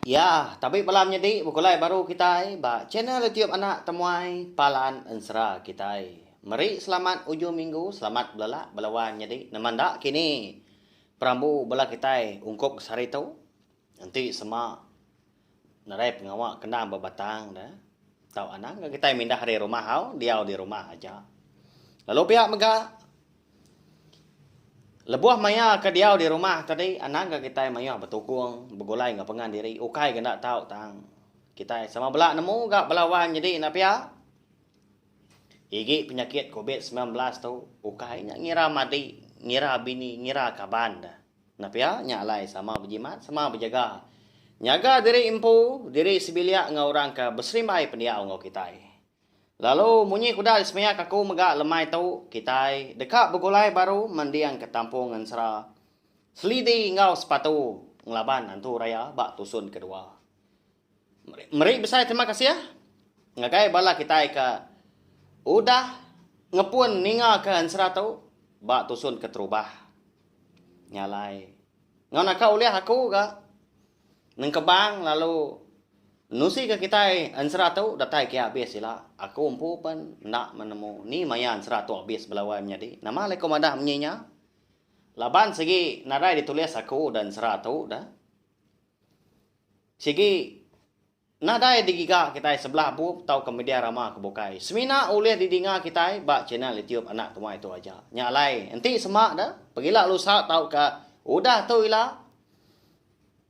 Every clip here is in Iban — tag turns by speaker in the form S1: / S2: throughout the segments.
S1: Ya, tabi bala menyedi bekulai baru kitai ba channel YouTube anak temuai Palan Ensera kitai. Meri selamat ujung minggu selamat belala bala wan nyedi nembang da kini perambu bala kitai ungkup ke sehari tu enti sema nadai pengawa kendang ba batang da tau anang ga kitai mindah ari rumah au diau di rumah aja lalu pia mega Lebuh maya ke diau di rumah tadi, anang ga kitai mayuh betukung, begulai enggau pengan diri ukai ga enda tau tang kitai sama bela nemu ga bala wan nyadi enda pia. Igi penyakit covid semilan belas tu ukai nya ngira madi, ngira bini, ngira kaban da. Enda pia nya alai sama bejimat, sama bejaga. Nyaga diri empu, diri sebilik enggau orang ke beserimbai pendiau enggau kitai. Lalu munyi kuda disemeak aku mega lemai tu kitai deka begulai baru manding ke tampung ensera selidi enggau sepatu ngelaban antu raya ba tusun kedua. Meri besai terima kasih ngagai bala kitai ke udah ngepun ninga ke ensera tu ba tusun keterubah. Nya alai enggau naka ulih aku ga. Nengkebang lalu nusi ke kitai ensera tu datai kia abis ila. Aku empu pen enda menemu ni maya ensera tu abis bela wai menyadi. Nama alai ku madah menyi nya? Laban sigi nadai ditulis aku da ensera tu da. Sigi. Nadai digiga kitai sebelah bup tauka media rama ke bukai semina ulih didinga kitai ba channel YouTube Anak Tumai tu aja. Nya alai, enti sema da, pegila lusa tauka udah tu ila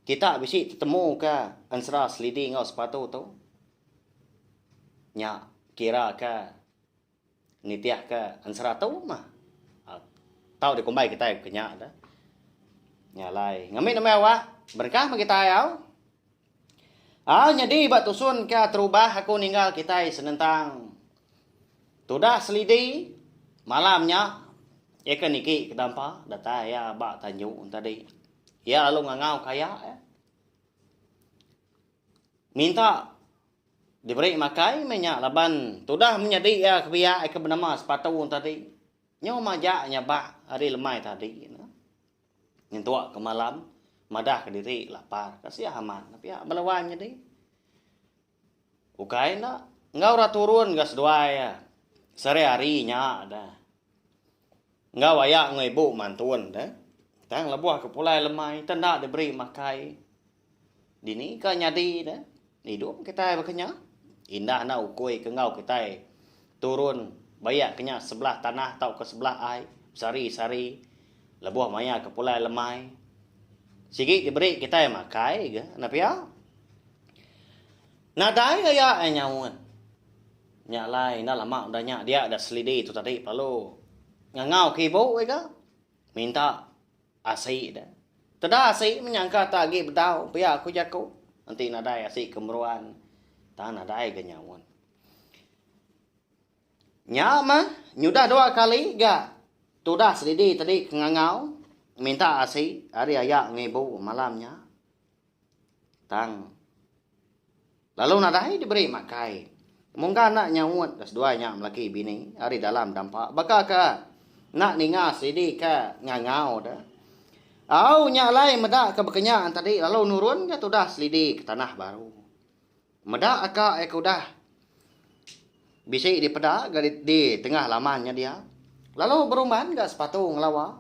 S1: kita bisi tetemuka ensera selidi enggau sepatu tu. Nya kiraka. Nitihka ensera tu mah tau dikumbai kitai ke nya dah. Nya alai ngambi nembiak awak berengkah meh kitai au. Au nyadi ba tusun ka terubah aku ninggal kitai senentang tudah selidi malam nya iya ke niki ke dampa datai iya ba tanju tadi. Iya lalu ngangau ka aya minta Diberi makai meh nya laban tudah menyadi iya ke biak ai ke benema sepatu tadi. Nyu majak nya ba hari lemai tadi ne. Nyentuk ke malam madah ke diri lapar ka sia amat ne pia bala wai nyadi. Ukai enda enggau ra turun ga seduai iya sehari hari nya da. Enggau aya enggau ibu mantun da. Tang lebuh ke pulai lemai enda diberi makai. Dini ka nyadi ne idup kitai baka nya? Indah enda ukui ke enggau kitai turun bayak ke nya sebelah tanah tauka sebelah ai besari-sari lebuh maya ke pulai lemai. Sigi diberi kitai makai ga enda pia. Nadai ga iya ai nyaut. Nya alai enda lama udah nya dia da selidi tu tadi pelalu ngangau ke ibu ai ga minta. Asi da. Teda asi menyangka ta agi bedau pia ku jaku. Enti nadai asi ke meruan ta nadai ga nyaun. Nya mah nyudah dua kali ga tudah sedidi tadi ke ngangau minta asi ari aya ngibu malam nya. Tang. Lalu nadai diberi makai. Mungga enda nyaut ka seduai nya melaki bini ari dalam dampa baka ka enda ninga sidi ka ngangau da. Au nya alai meda ka bekenyan tadi lalu nurun ka tudah selidi ka tanah baru. Meda aka ai ke udah bisi dipeda ga di tengah laman nya dia, lalu berumban ga sepatu ngelawa.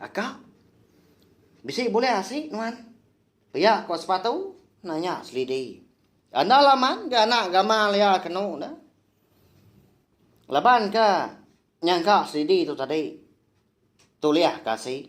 S1: Aka, bisi bulih asi nuan? pia ko sepatu nanya Selidi. Enda laman ga anak gamal iya ke anu dah. Laban ka nyangka Selidi tu tadi. Tulih ka asi.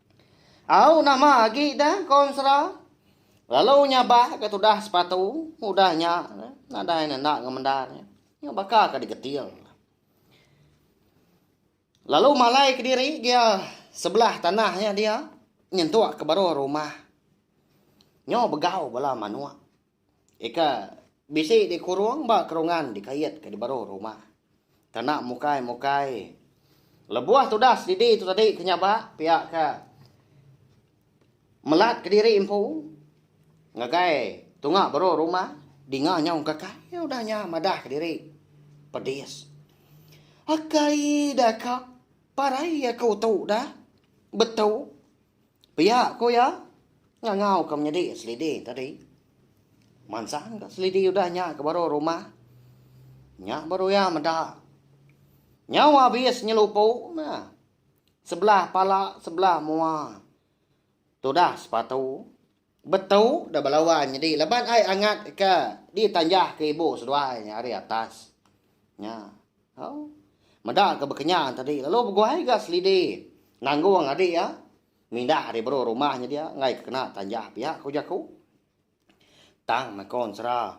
S1: Au nama agi dah konsra lalu nyabak ke tudah sepatu udah nya nadai nenda ngemendar nya nyu baka ke digetil lalu malai kediri gia sebelah tanah nya dia nyentuk ke baruh rumah nyu begau bala manuk. Ika bisi dikurung ba kerungan dikait ka dibaru rumah. Tana mukai mukai. Lebuh tudas didi tu tadi ke nyaba pia ka melat ke diri empu ngagai tunga baru rumah dinga nyau engkakai udah nya madah ka diri pedis. Akai da ka parai aku tu da betu. Pia ku iya, ngangau ke menyadi selidi tadi. Mansang ka selidi udah nya ke baru rumah. Nya baru iya meda. Nyau abis nyelupu meh. Sebelah pala sebelah mua. Tudah sepatu. Betu da belawan nyadi laban ai angat ka ditanjah ke ibu seduai nya ari atas nya au meda ka bekenya tadi lalu beguai ga selidi nanggung adi iya mindah ari baru rumah nya dia enggai ka kena tanjah pia ku jaku tang nakon sera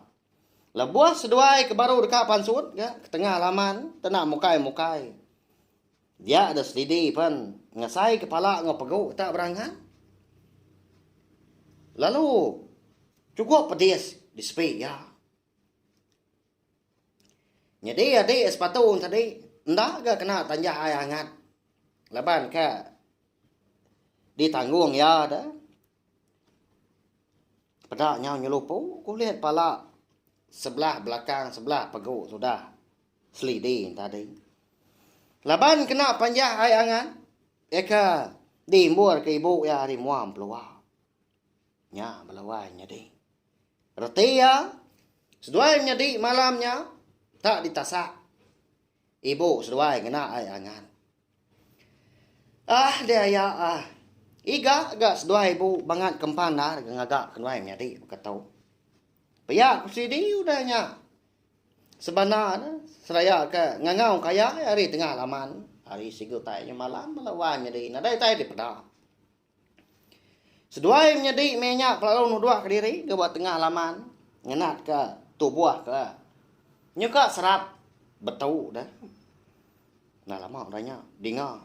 S1: lebuh seduai ke baru deka pansut ga ketengah laman tena mukai mukai. Dia ada selidi pen ngasai kepala enggau pegu tak berangan. Lalu cukup pedis di sepi iya. Nyadi adi sepatu tadi enda ga kena tanjah ai angat laban ka ditanggung iya da Peda nyau nyelupu kulit pala sebelah belakang sebelah pegu sudah selidi tadi. Laban kena panjah ai angan eka diimbur ke ibu iya ari mua mepelua. Nya bala wai nyadi. Reti iya seduai menyadi malam nya tak ditasak. Ibu seduai ngena ai angan. Ah deh aya ah. Iga ga seduai ibu bangat ke empan ndar ga ngaga ke nuai menyadi baka tu. Pia ku sidi udah nya. Sebana ne seraya ke ngangau ke aya ari tengah laman ari sigi utai nya malam bala wai menyadi nadai utai dipeda. Seduai menyedi meh nya kelalu nuduhka diri ke ba tengah laman ngenatka tubuh ke nyuka serap betu deh. Enda lama udah nya dinga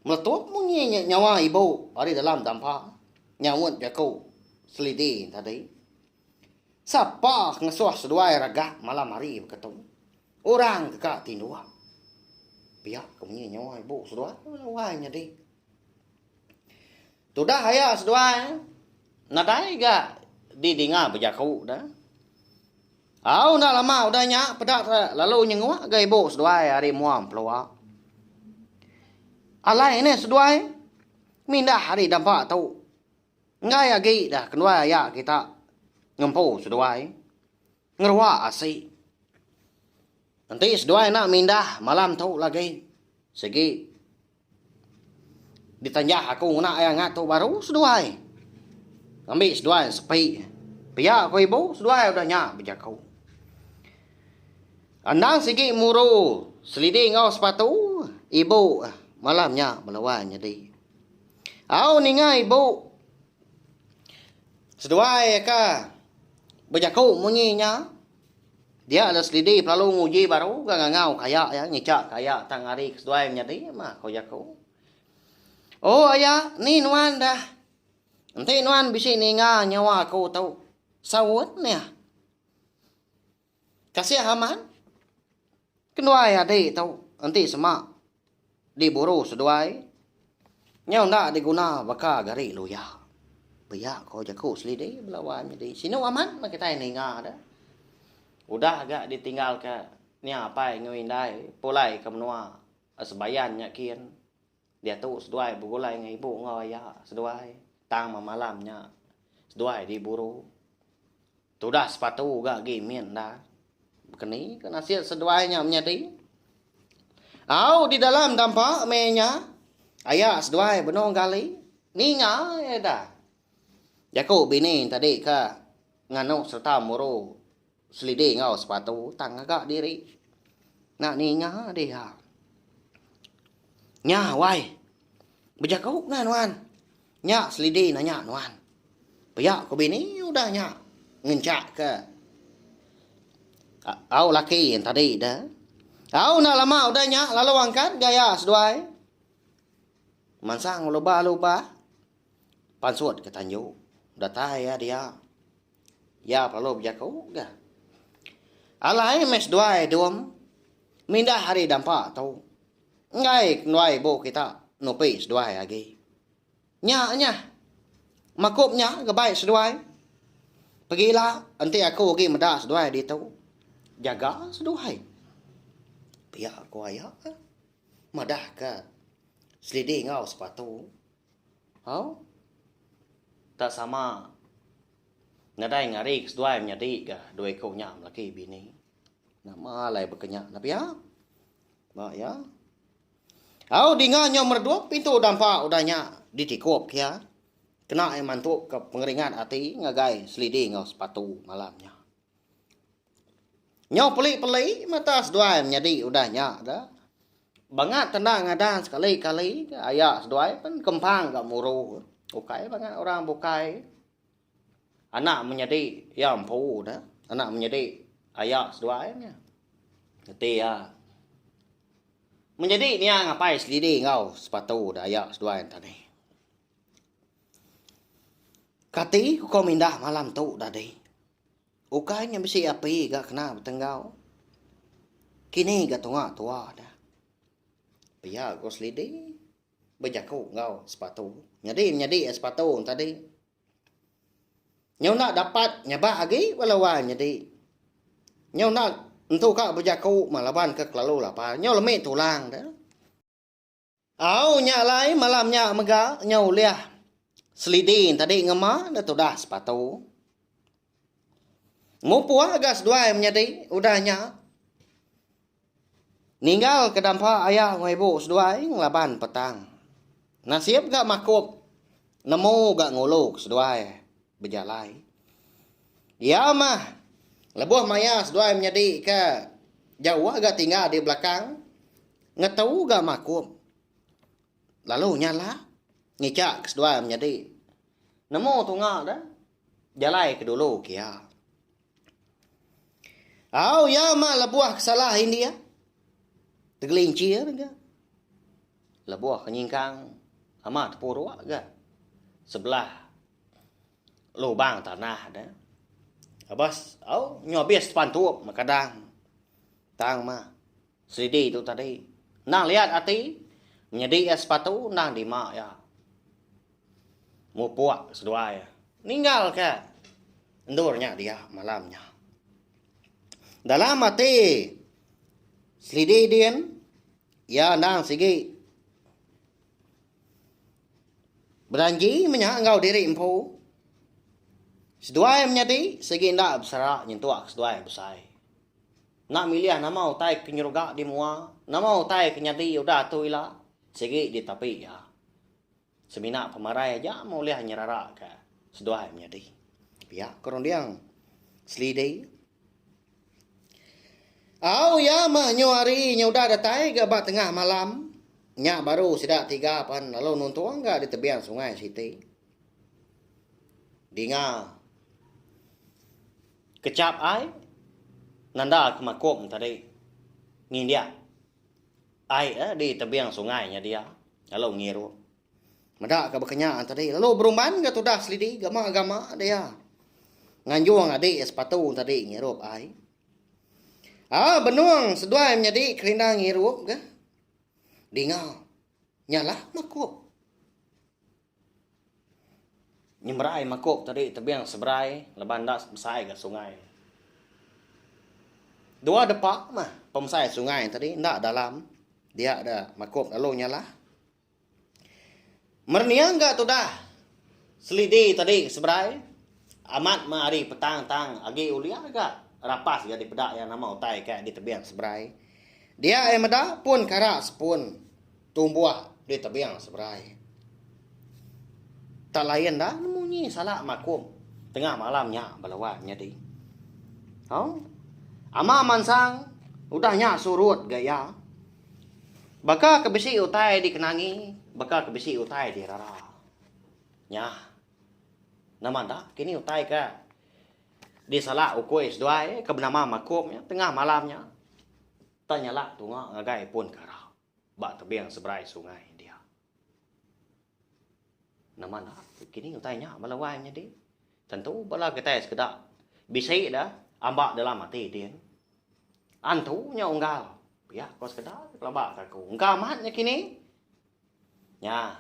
S1: meletup munyi nyawa ibu ari dalam dampa nyaunt jaku selidi tadi. Sapa ke ngesuh seduai regak malam hari beketu. Orang ke ka tinduk pia ke munyi nyawa ibu seduai tu lawan nyadi. Tudah aya seduai nadai ga didinga bejaku dah. Au enda lama udah nya peda lalu nyenguk ga ibu seduai ari mua pelua. Alai ne seduai mindah ari dampa tu. Enggai agi dah kenduai aya kita ngempu seduai. Ngerewa asi. Enti seduai enda mindah malam tu lagi sigi ditanjah aku ngena iya ngat tu baru seduai ngambi seduai sepi pia ku ibu seduai udah nya bejaku. Endang sigi muru selidi enggau sepatu ibu malam nya melawan nyadi. Au ninga ibu. Seduai ka bejaku munyi nya, dia adalah selidi pelalu nguji baru ga ngangau ka aya iya ngica ka aya tang ari ke seduai menyadi ma ko jaku. O aya ni nuan dah enti nuan bisi ninga nyawa aku tu saut meh. Kasih aman. Kenduai adi tu enti sema diburu seduai nyau enda diguna baka gari luya. Pia ko jaku selidi bela wan nyadi sinu aman meh kitai ninga deh. Udah ga ditinggal ka nya apai enggau indai pulai ka menua sebayan nya kin. Diatu seduai begulai enggau ibu enggau aya seduai tang ba malam nya seduai diburu. Tudah sepatu ga agi mit enda. Bekeni ke nasit seduai nya menyadi? Au di dalam dampa meh nya aya seduai benung gali ninga eda jaku bini tadi ka nganu sereta muru. Selidi enggau sepatu tang ngaga diri. Enda ninga diha. Nya wai. Bejaku nah nuan. Nya selidi nanya nuan. Pia ku bini udah nya ngenchak ke au laki en tadi de. Au enda lama udah nya lalu angkat gaya seduai. Mansang lubah-lubah pansut ke tanju. Datai iya dia. Iya perlu bejaku ga. Alai meh seduai dum mindah hari dampa tu enggai kenduai ibu kita nupi seduai agi. Nya nyah. Makup nya ga bai seduai. Pegila enti aku agi meda seduai ditu. Jaga seduai. Pia ku aya. Madahka selidi enggau sepatu. Hau. Tak sama. Nadai ngari ke seduai menyadi ga dua iku nya belaki bini. Nama alai baka nya nah pia. Ba iya. Hau dinga nyau meredup pintu dampa udah nya ditikup iya. Kena iya mantu ke pengeringat ati ngagai selidi enggau sepatu malam nya. Nyau peli peli mata seduai menyadi udah nya ga. Bangat tenda ngadan sekali kali ga aya seduai pen kempang ga muru ukai bangat orang bukai anak menyadi iya empu da anak menyadi aya seduai nya reti iya menyadi nia ngapai selidi enggau sepatu da aya seduai enta deh. Kati ko mindah malam tu udah deh. Ukai nya bisi api ga kena betenggau. Kini ga tunga tua dah. Pia ko Selidi bejaku enggau Sepatu. Nyadi menyadi ai Sepatu tadi. Nyau enda dapat nyabak agi ba laban nyadi. Nyau enda nentu ka bejaku ma laban ke kelalu lapar. Nyau lemi tulang dah. Au nya alai malam nya mega nyau ulih seliding tadi ngema enda tudah sepatu. Mupuh ga seduai menyadi udah nya. Ninggal ke dampa aya enggau ibu seduai ngelaban petang. Nasib ga makup nemu ga ngulu ke seduai. Bejalai. Iya mah, lebuh maya seduai menyedika jawa ga tinggal di belakang, ngetu ga makum lalu nyala ngichak ke seduai menyedi. Nemu tunga deh, jalai ke dulu ke iya. Au iya mah lebuh ke salah india, tegelincir ga. Lebuh ke nyingkang amat puruk ga sebelah. Lubang tanah da. Abas au nyu abis depan tu kadang. Tang mah seridi tu tadi. Nang liat ati nyedi iya sepatu nang dima iya. Mupuk seduai ninggal ka endur nya dia malam nya. Dalam ati seridi din iya endang sigi. Bejanji menya enggau diri empu, seduai menyadi sigi enda besera nyentuk ke seduai besai. Enda milih nama utai ke nyeruga di mua, nama utai ke nyadi udah tu ila, sigi ditapi iya. Semina pemarai aja meh ulih nyeraraka seduai menyadi. Pia ko runding Selidi. Au iya meh nyu hari nya udah datai ga ba tengah malam nya baru sida tiga pan lalu nuntung ga di tebian sungai siti. Dinga kechap ai nanda ke makum tadi ngindik ai di tebian sungai nya dia lalu ngirup. Meda ka bekenya tadi lalu berumban ga tudah selidi gama gama dia. Nganjung adi ya sepatu tadi ngirup ai. Ah benung seduai menyadi kerinda ngirup ga. Dinga. Nyalah makup. Nyemberai makup tadi tebing seberai leban enda besai ga sungai. Dua depa mah pemesai sungai tadi enda dalam dia da makup lalu nyalah. Merniang ga tudah selidi tadi seberai amat meh ari petang tang agi ulih ga rapas ga dipeda iya nama utai ka di tebing seberai. Dia iya meda pun kara sepun tumbuh di tebing seberai. Tak lain da nemu nyi sala makum tengah malam nya bala wan nyadi. Au. Ama mansang udah nya surut ga iya. Baka ke bisi utai dikenangi, baka ke bisi utai dirara. Nya. Nama enda, kini utai ke disala ukui seduai ke benama Makum nya tengah malam nya tanyala tunga ngagai pun kara ba tebing seberai sungai india. Nama enda ke kini utai nya bala wai nyadi? Tentu bala kitai sekeda bisi da amba dalam ati din. Antu nya unggal pia ko sekeda kelaba ka aku. Engka amat nya kini. Nya.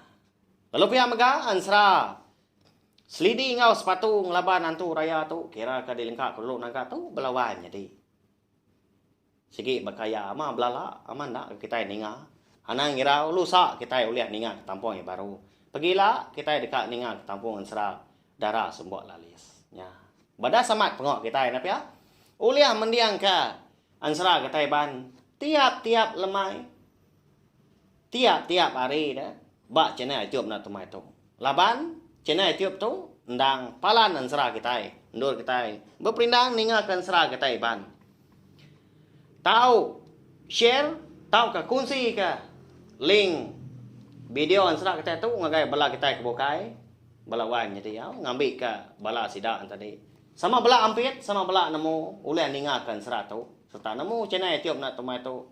S1: Lalu pia mega ansra selidi enggau sepatu ngelaban antu raya tu kira ka dilengka ko dulu naga tu bala wai nyadi. Sigi baka iya ama belala ama enda ke kitai ninga. Anang ngirau lusa kitai ulih ninga ke tampung iya baru. Pegila kitai deka ninga ke tampung ensera dara sembok lalis nya. Badas amat pengoh kitai enda pia? Ulih mendingka ensera kitai ban tiap-tiap lemai. Tiap-tiap hari ne ba channel YouTube enda temai tu. Laban channel YouTube tu endang palan ensera kitai. Endur kitai beperindang ninga ke ensera kitai iban. Tau share tauka kunsi ke link video ensera kitai tu ngagai bala kitai ke bukai, bala wai menyadi au ngambi ke bala sida enti tadi. Sama bala ampit sama bala nemu ulih ninga ke ensera tu serta nemu channel YouTube enda temai tu.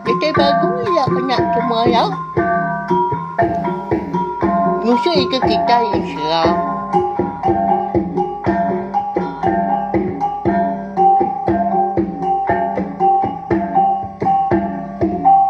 S2: Kitai belagu iya nya cuma iya ngusung ika kitai iya sila.